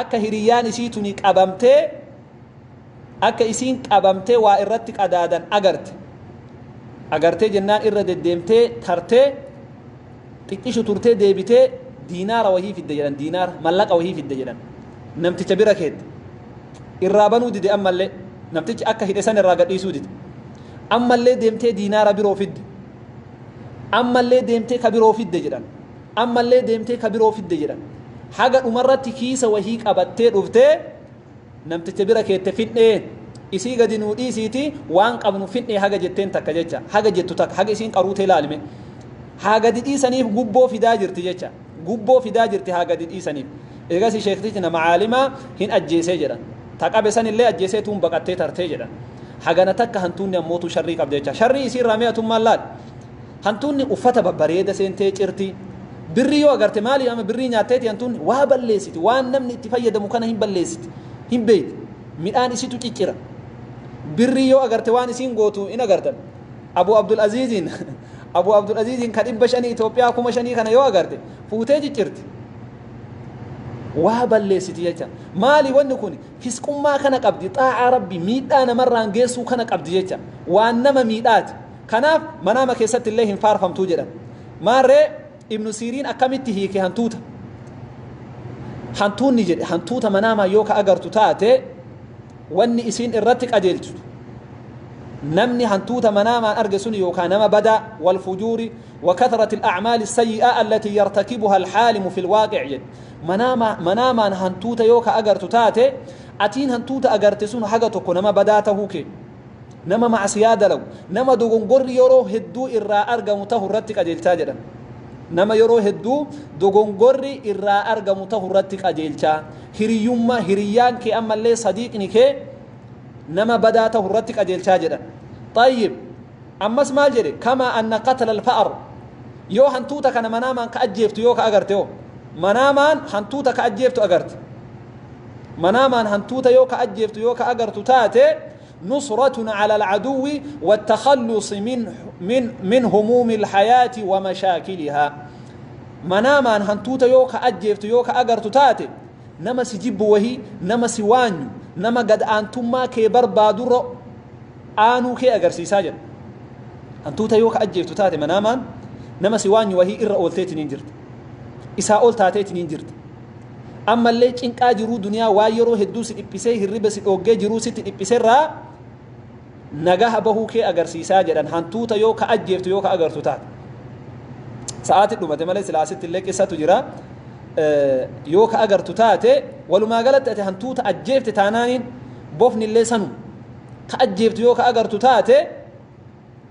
akka hiriyyaan isii tuni qabamtee akka isiin qabamtee waa irratti qadaadan agarte agartee jennaan irra deddeemtee tartee xiqqishu turtee deebitee diinaara wahii fidde jedhan diinaara mallaqa wahii fidde jedhan namticha bira keette irraa banuu dide ammallee namtichi akka hidhe san irraa gadhiisuu dide ammallee deemtee diinaara biroo fidde ammallee deemtee ka biroo fidde jedhan Ammallee deemtee ka biroo fidde jedhan. Haga dhumarratti kiisa wahii qabattee dhuftee namticha bira keette fidhee isii gadi nuu dhiisiiti waan qabnu fidhee haga jetteen takka jecha haga jettu takka haga isiin qaruutee laalime haa gadi dhiisaniif gubboo fidaa jirti jecha gubboo fidaa jirti haa gadi dhiisaniif eegas sheektichi nama caalimaa hin ajjeesee jedhan ta qabe sanillee ajjeesee tuun baqattee tartee jedhan hagana takka hantuunni ammootu sharrii qabda jecha sharrii isii irraa mee atummaan laal Hantuunni uffata babbareeda seentee cirti. Birrii yoo agarte maali ama birrii nyaatteeti hantuunni waa balleessiti waan namni itti fayyadamu kana hin balleessiti hin beeyti midhaan isitu ciccira birrii yoo agarte waan isiin gootu hin agartan Abu Abdul Aziiziin Abu Abdul Aziiziin ka dhibba shanii Itoophiyaa kuma shanii kana yoo agarte fuutee ciccirti waa balleessiti jecha maali wanni kun fisqummaa kana qabdi xaa'aa rabbi miidhaa namarraan geessuu kana qabdi jecha waan nama miidhaati Kanaaf manaama keessatti illee hin faarfamtu jedhan. Maarree Ibnu Siiriin akkamitti hiike hantuuta? Hantuunni jedhe hantuuta manaamaa yoo ka agartu taate wanni isiin irratti qajeelchitu namni hantuuta manaamaan arge sun yookaan nama badaa wal fujuuri wa kathrati al-a'maali sayyi'aa allatii yartakibuha al-haalimu fil waaqic jedhe manaamaa manaamaan hantuuta yoo ka agartu taate atiin hantuuta agarte sun haga tokko nama badaa tahuu kee nama ma'asiyaa dalagu nama dogongorri yeroo hedduu irraa argamu tahu irratti qajeelchaa jedhan nama yeroo hedduu dogongorri irraa argamu tahu irratti qajeelchaa hiriyyummaa hiriyyaan kee ammallee sadiiqni kee nama badaa tahu irratti qajeelchaa jedhan xayyib ammas maal jedhe kamaa anna qatla alfa'ar yoo hantuuta kana manaamaan ka ajjeeftu yoo ka agarte hoo manaamaan hantuuta ka ajjeeftu agarte manaamaan hantuuta yoo ka ajjeeftu yoo ka agartu taate nusratun ala alcaduwi wattakhallusi min, min, min humuumi alhayaati wa mashaakilihaa manaamaan hantuuta yoo ka ajjeeftu yoo ka agartu taate nama si jibbu wahii nama si waanyu nama gad aantummaa kee barbaadurra aanuu kee agarsiisaa jedha hantuuta yoo ka ajjeeftu taate manaamaan nama si waanyu wahii irra oolteetiniin jirta isaa ol taateetiniin jirta Ammallee cinqaa jiruu duniyaa waan yeroo hedduu si dhiphisee hirriba si dhooggee jiruu sitti dhiphiserraa nagaha bahuu kee agarsiisaa jedhan hantuuta yoo ka ajjeeftu yoo ka agartu taate. Sa'aati dhumate malee silaa asitti illee qissatu jira. Yoo ka agartu taate walumaa galatti ati hantuuta ajjeefte taanaaniin bofni illee sanu. Ka ajjeeftu yoo ka agartu taate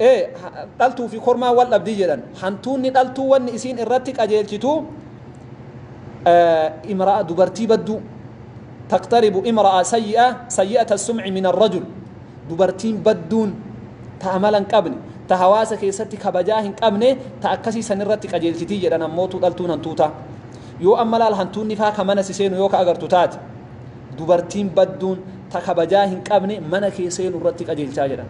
e dhaltuu fi kormaan wal dhabdi jedhan hantuunni dhaltuu wanni isiin irratti qajeelchitu imra'a dubartii badduu taqtaribu imra'a sayyi'a sayyi'ata sum'i min arrajul dubartiin badduun ta amala hin qabne ta hawaasa keessatti kabajaa hin qabne ta akkasii san irratti qajeelchiti jedhan ammootu dhaltuun hantuutaa yoo amma laal hantuunni faa ka mana si seenu yoo ka agartu taate dubartiin badduun ta kabajaa hin qabne mana kee seenu irratti qajeelchaa jedhan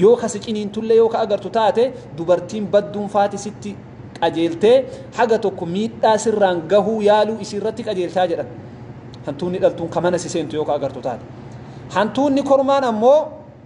yoo ka si ciniintullee yoo ka agartu taate dubartiin badduun faati sitti qajeeltee haga tokko miidhaa sirraan gahuu yaaluu isii irratti qajeelchaa jedhan hantuunni dhaltuun ka mana si seentu yoo ka agartu taate hantuunni kormaan ammoo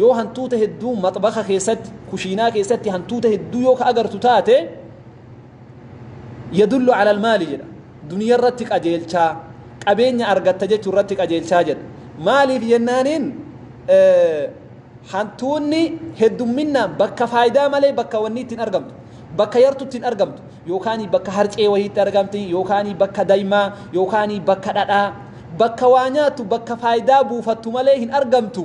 Yoo hantuuta hedduu maxbaka keessatti, kushiinaa keessatti hantuuta hedduu yoo ka agartu taate yadullu ala almaali jedha duniya irratti qajeelchaa qabeenya argatta jechuu irratti qajeelchaa jedha maaliif jennaaniin hantuunni heddumminnaan bakka faayidaa malee bakka wanni ittiin argamtu bakka yartu ittiin argamtu yookaan bakka harcee wayiitti argamti yookaan bakka daymaa yookaan bakka dhadhaa bakka waa nyaattu bakka faayidaa buufattu malee hin argamtu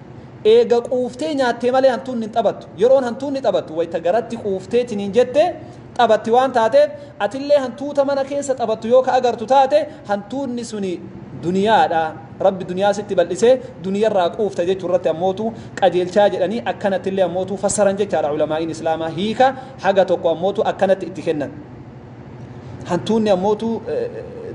Eega quuftee nyaattee malee hantuunni hin taphattu. Yeroon hantuunni taphattu wayta garatti quufteetiniin jette taphatti waan taateef atillee hantuuta mana keessa taphattu yoo ka agartu taate hantuunni suni duniyaadha. Rabbi duniyaa sitti bal'isee duniyarraa quufta jechuurratti ammootu qajeelchaa jedhanii akkanattillee ammootu fassaran jechaadha ulamaa'iin Islaamaa hiika haga tokko ammootu akkanatti itti kennan. Hantuunni ammootu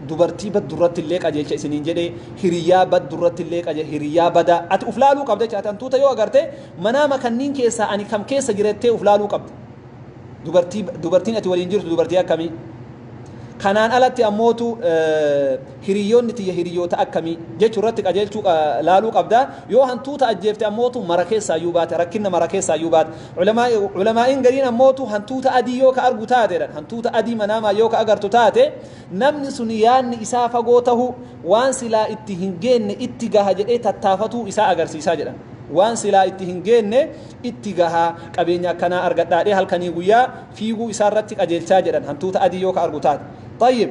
dubartii baddu irratti illee qajeelcha isiniin jedhe hiriyyaa baddu irratti illee qajeelcha hiriyyaa bada ati uf laaluu qabda jecha ati hantuuta yoo agarte manaama kanniin keessaa ani kam keessa jira jettee uf laaluu qabda dubartii dubartiin ati waliin jirtu dubartii akkamii kanaan alatti ammootu hiriyyoonni tiyya hiriyyoota akkamii jechuu irratti qajeelchuu laaluu qabda yoo hantuuta ajjeefte ammootu mara keessaa iyyuu baate rakkinna mara keessaa iyyuu baate Ulamaa'iin gariin ammoo utuu hantuuta adii yoo ka argu taate jedhan hantuuta adii manaamaan yoo ka agartu taate namni sun yaanni isaa fagoo tahuu waan silaa itti hin geenne itti gaha jedhee tattaafatuu isaa agarsiisaa jedhan waan silaa itti hin geenne itti gaha qabeenya akkanaa argadhaadhee halkanii guyyaa fiiguu isaa irratti qajeelchaa jedhan hantuuta adii yoo ka argu taate. Tayyib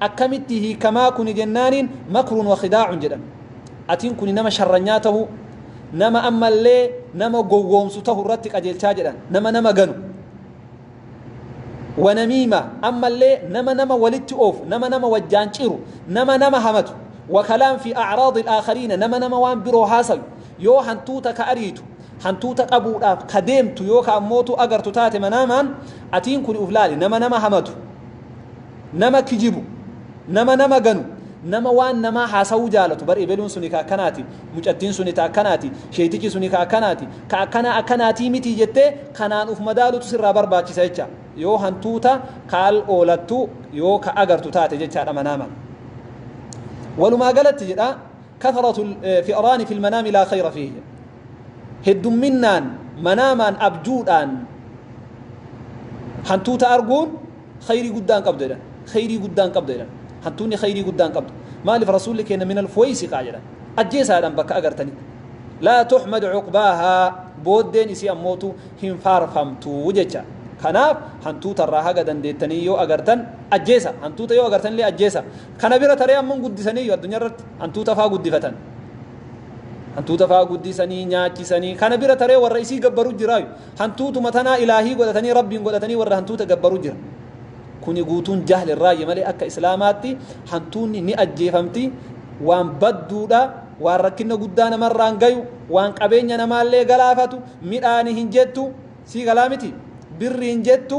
Akkamitti hiikamaa kuni jennaaniin makrun wa khidaa'un jedhan. Atiin kuni nama sharranyaa tahuu, nama ammallee nama gowwoomsu tahu irratti qajeelchaa jedhan. Nama nama ganu. Wa namiima ammallee nama nama walitti oofu, nama nama wajjaan ciru, nama nama hamatu. Wa kalaam fi a'raadil aakhariina nama nama waan biroo haasayu. Yoo hantuuta ka ariitu, hantuuta qabuudhaaf ka deemtu yoo ka ammootu agartu taate manaamaan, atiin kuni uf laali. Nama nama hamatu. Nama kijibu, nama nama ganu, nama waan namaa haasawuu jaalatu, bar ebeluun suni ka akkanaati, mucattiin suni ta akkanaati, sheeytichi suni ka akkanaati, ka akkanaa akkanaatii mitii jettee kanaan uf madaalutu sirraa barbaachisa jecha. Yoo hantuuta ka al oolattu yoo ka agartu taate jechaadha manaaman. Walumaa galatti jedha kathratu fi'raani fil manaami laa khayra fiihi jedha. Heddumminnaan manaamaan abjuudhaan hantuuta arguun Khayrii guddaan qabda jedhan. Khayrii guddaan qabda jedhan. Hantuunni khayrii guddaan qabdu. Maaliif Rasuulli keenya minal fuwaysiqaa jedhan. Ajjeesaa jedhan bakka agartanitti. Laa tuhmad cuqbaahaa booddeen isii ammootu hin faarfamtu jecha. Kanaaf hantuuta irraa haga dandeettanii yoo agartan ajjeesa. Hantuuta yoo agartan illee ajjeesa. Kana bira taree ammoo guddisaniiyyu addunyaa irratti hantuuta faa guddifatan. Hantuuta faa guddisanii nyaachisanii kana bira taree warra isii gabbaru jiraayu. Hantuutuma tanaa ilaahii godhatanii rabbiin godhatanii warra hantuuta gabbaru jira. Kuni guutuun jahli irraayyi malee akka islaamaatti hantuunni ni ajjeefamti waan badduudha waan rakkinna guddaa namarraan gayu waan qabeenya namaallee galaafatu midhaani hin jettu sii galaa miti birri hin jettu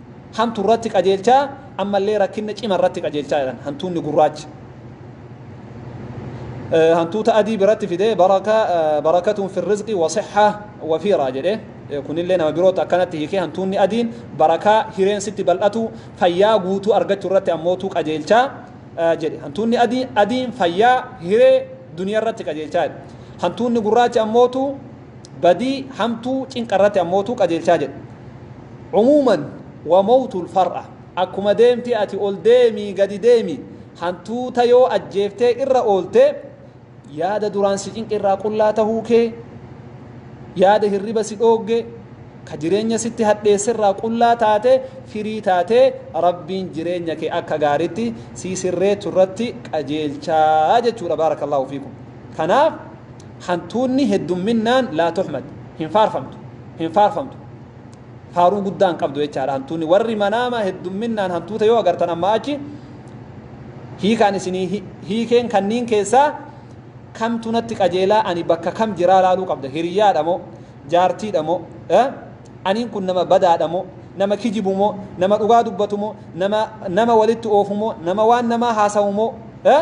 hantu irratti qajeelchaa ammallee rakkinna cima irratti qajeelchaa jedhan hantuunni gurraachi hantuuta adii biratti fidee baraka barakatuun firrizqi wasixha wafiiraa jedhe kunillee nama birootti akkanatti hiikee hantuunni adiin barakaa hireen sitti bal'atu fayyaa guutuu argachuu irratti ammootu qajeelchaa jedhe hantuunni adii adiin fayyaa hiree duniyaa irratti qajeelchaa jedhe hantuunni gurraachi ammootu badii hamtuu cinqa irratti ammootu qajeelchaa jedhe. Umuuman wa mowtul far'a akkuma deemti ati ol deemi gadi deemi hantuuta yoo ajjeeftee irra oolte yaada duraan si cinqe irraa qullaa tahuu kee yaada hirriba si dhoogge ka jireenya sitti hadheesse irraa qullaa taate firii taate rabbiin jireenya kee akka gaaritti si sirreechu irratti qajeelchaa jechuudha baarakallahu fiikum kanaaf Hantuunni heddumminnaan laa tuhmad, hin faarfamtu, hin faarfamtu. Faaruu guddaa hin qabdu jechaadha hantuunni. Warri manaama heddumminnaan hantuuta yoo agartan ammaa achi hiikaan isinii hi- hiikeen kanniin keessaa kamtu natti qajeelaa ani bakka kam jiraa laaluu qabda hiriyaadha moo jaartiidha moo eh? aniin kun nama badaadha moo nama kijibu moo nama dhugaa dubbatu moo nama nama walitti oofu moo nama waan namaa haasawu moo eh?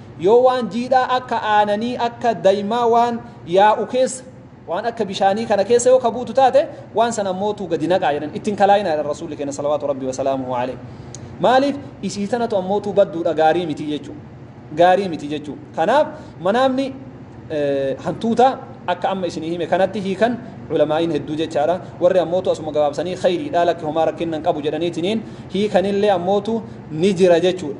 Yoo waan jiidhaa akka aananii, akka daimaa waan yaa'u keessa, waan akka bishaanii kana keessa yoo ka buutu taate, waan san ammootu gadi naqaa jedhan. Itti hin kalaayinaa jedhan Rasuulli keenya salawaatu Rabbii wa salaamuhu aleyh. Maaliif? Isii tanatu ammootu badduudha, gaarii miti jechuu. Gaarii miti jechuu. Kanaaf manaamni hantuutaa akka amma isinii hime kanatti hiikan ulamaa'iin hedduu jechaadha. Warri ammootu asuma gabaabsanii khayriidha lakki homaa rakkinna hin qabu jedhaniitiniin hiikanillee ammootu ni jira jechuudha.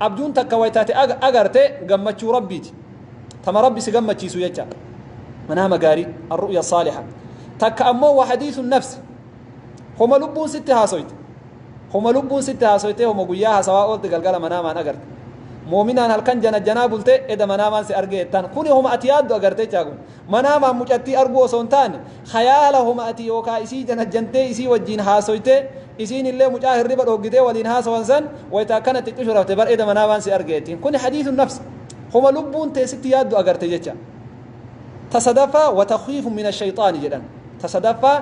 Abjuun takka wayta ati agarte gammachuu Rabbiiti. Tama Rabbi si gammachiisu jecha. Manaama gaarii, arru'ya saaliha. Takka ammoo wa hadiisun nafsi. Homa lubbuun sitti haasoyte. Homa lubbuun sitti haasoytee homa guyyaa haasawaa oolte galgala manaamaan agarte. Moominaan halkan janajjanaa bulte eda manaamaan si argee jettaan. Kuni homa ati yaaddu agarte jechaa kun. Manaamaan mucattii arguu osoo hin taane, khayaala homa ati yookaa isii janajjantee isii wajjiin haasoytee Isiinillee mucaa hirriba dhooggitee waliin haasawan san wayta akkana itti cushurafte bar eda manaa waan si arge jettiin. Kuni hadiisun nafs. Homa lubbuun tee sitti yaaddu agarte jecha. Ta sadaffaa wa takhwiifun mina shayxaani jedhan. Ta sadaffaa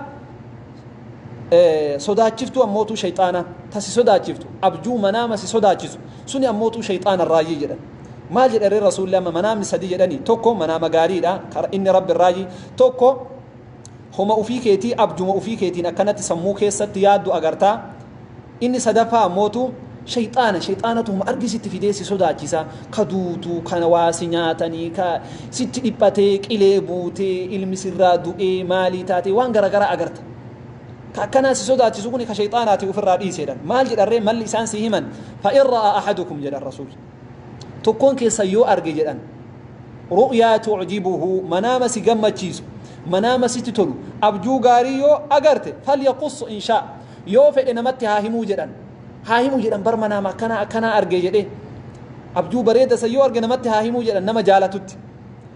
sodaachiftuu ammootuu shayxaana ta si sodaachiftu abjuu manaama si sodaachisu suni ammootuu shayxaana irraayyi jedhan. Maal jedhe ree rasuulli amma manaamni sadii jedhani tokko manaama gaariidha inni rabbi irraayyi tokko Homa ofii keetii abjuma ofii keetiin akkanatti sammuu keessatti yaaddu agarta. Inni sadaffaa ammootu shayxaana shayxaanatu homa argi sitti fidee si sodaachisa. Ka duutu kana waa si nyaatanii ka sitti dhiphatee qilee buutee ilmi sirraa du'ee maalii taatee waan garagaraa agarta. Ka akkanaa si sodaachisu kuni ka shayxaanaati ofirraa dhiiseedhan. Maal jedharree malli isaan si himan fa'in ra'aa ahadukum jedhan rasuul. tokkoon keessan yoo arge jedhan ru'yaa tu'jibuhu manaama si gammachiisu manaama sitti tolu abjuu gaarii yoo agarte falyaquss inshaa yoo fedhe namatti haa himuu jedhan haa himuu jedhan bar manaama akkanaa akkanaa arge jedhee abjuu bareeda san yoo arge namatti haa himuu jedhan nama jaalatutti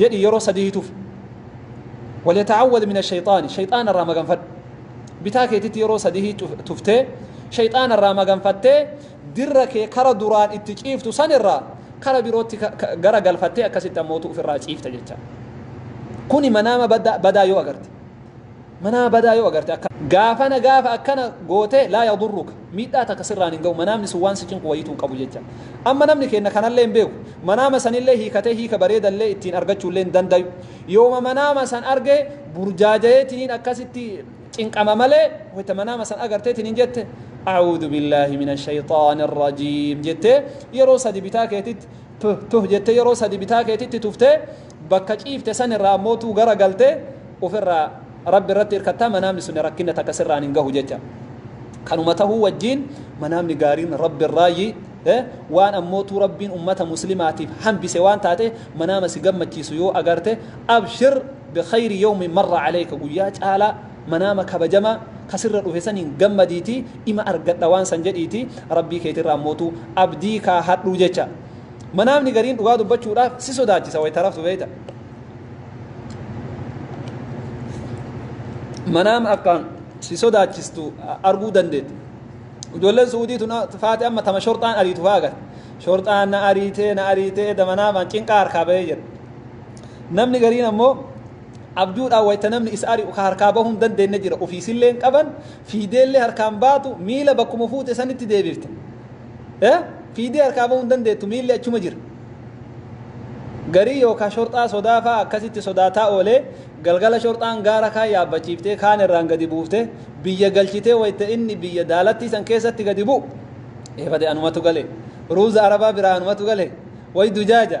jedhi yeroo sadii tufi waliyataawwad min ashayxaani shayxaana irraa maganfadhu bitaa keetitti yeroo sadii tuftee shayxaana irraa maganfattee dirra kee kara duraan itti ciiftu san irraa kara birootti gara galfattee akkasitti ammootu ofirraa ciifta jecha kuni manaama badaa yoo agarte Manaa badaa yoo agarte akka. Gaafana gaafa akkana goote laa yadurruka miidhaa takka sirraan hin ga'u manaamni sun waan si cinqu wayiituu hin qabu jecha. Amma namni keenna kanallee hin beeku. Manaama sanillee hiikatee hiika bareedallee ittiin argachuullee hin dandayu. Yooma manaama san arge burjaajayeetiniin akkasitti cinqama malee wayta manaama san agarteetiniin jette A'uudu billaahi mina shayxaani rajiim jettee yeroo sadi bitaa keetitti Tuh tuh jettee yeroo sadi bitaa keetitti tuftee bakka ciifte san irraa ammoo tuu gara galtee ufirraa Rabbi irratti irkattaa manaamni suni rakkinna takka sirraan hin gahu jecha. Kanuma tahuu wajjiin manaamni gaariin Rabbi irraayyi eh waan ammoo tuu Rabbiin ummata muslimaatiif hambise waan taatee manaama si gammachiisu yoo agarte abshir bikhayri yawmin marra aleyka guyyaa caalaa Manaama kabajamaa ka sirra dhufe saniin gammadiitii ima argadha waan san jedhiitii Rabbii keetirraa ammootu abdii kaahadhu jecha. Manaamni gariin dhugaa dubbachuudhaaf si sodaachisa wayta raftu beeyta. Manaama akkaan si sodaachistu arguu dandeetta. Ijoolleen Suudii tun faate amma tama shorxaan ariitu fa'aa garte. Shorxaan na ariitee na ariitee da manaamaan cinqaa harkaa bahee jedha. Namni gariin ammoo abjuudhaan wayta namni isa ari'u ka harkaa bahuu hin dandeenne jira ofii isillee hin qaban fiideellee harkaan baatu miila bakkuma fuute sanitti deebifta Eh, fiidee harkaa bahuu hin dandeettu miilli achuma jira garii yookaan shorxaa sodaa fa'aa akkasitti sodaataa oolee galgala shorxaan gaara kaan yaabbachiiftee kaan irraan gadi buuftee biyya galchitee wayita inni biyya daalattii san keessatti gadi bu'u eefate anumatu gale ruuza arabaa biraa anumatu gale way dujaaja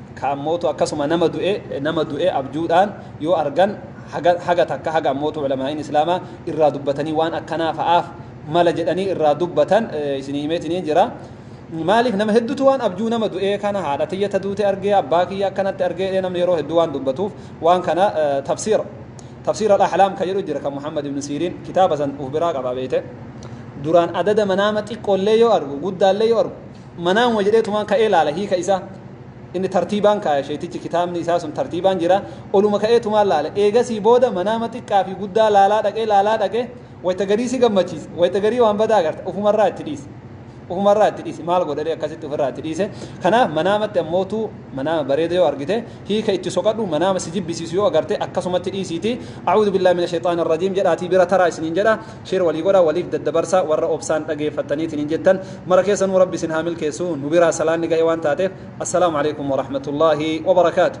Ka ammootu akkasuma nama du'e nama du'e abjuudhaan yoo argan haga haga takka haga ammootu ulamaa'iin islaamaa irraa dubbatanii waan akkanaa fa'aaf mala jedhanii irraa dubbatan isinii himeetiniin jira maaliif nama heddutu waan abjuu nama du'ee kana haadha tiyya ta duute argee abbaa kiyya akkanatti argee jedhee namni yeroo hedduu waan dubbatuuf waan kana tafsiira tafsiira al-ahlaam ka jedhu jira kan muhammad ibn siiriin kitaaba san uf biraa qaba beeyte duraan adada manaama xiqqoollee yoo argu guddaallee yoo argu Manaamuma jedheetumaan ka'ee laala hiika isaa. Inni tartiibaan kaaya sheeytichi kitaabni isaa sun tartiibaan jira. Oluma ka'eetumaan laale. Eegasii booda manaama xiqqaa fi guddaa laalaa dhaqee laalaa dhaqee wayta garii si gammachiisa. Wayta garii waan badaa agarta. Ufumarraa itti dhiise. Ufumarraa itti dhiise. Maal godhadhee akkasitti ofirraa itti dhiise. Kanaaf manaamatti ammootu manaama bareeda yoo argite hiika itti soqadhu manaama si jibbisiisu yoo agarte akkasumatti dhiisiitii A'uudu billaahi mina shayxaani rajiim jedhaatii bira taraa isiniin jedha. Share walii godha waliif daddabarsa warra obsaan dhageeffattaniitiin hin jettan mara keessanuu rabbi isin haa milkeessu nu biraa salaanni ga'e waan taateef Assalaamu Aleykum Warahmatullaahi Wabarakatuh.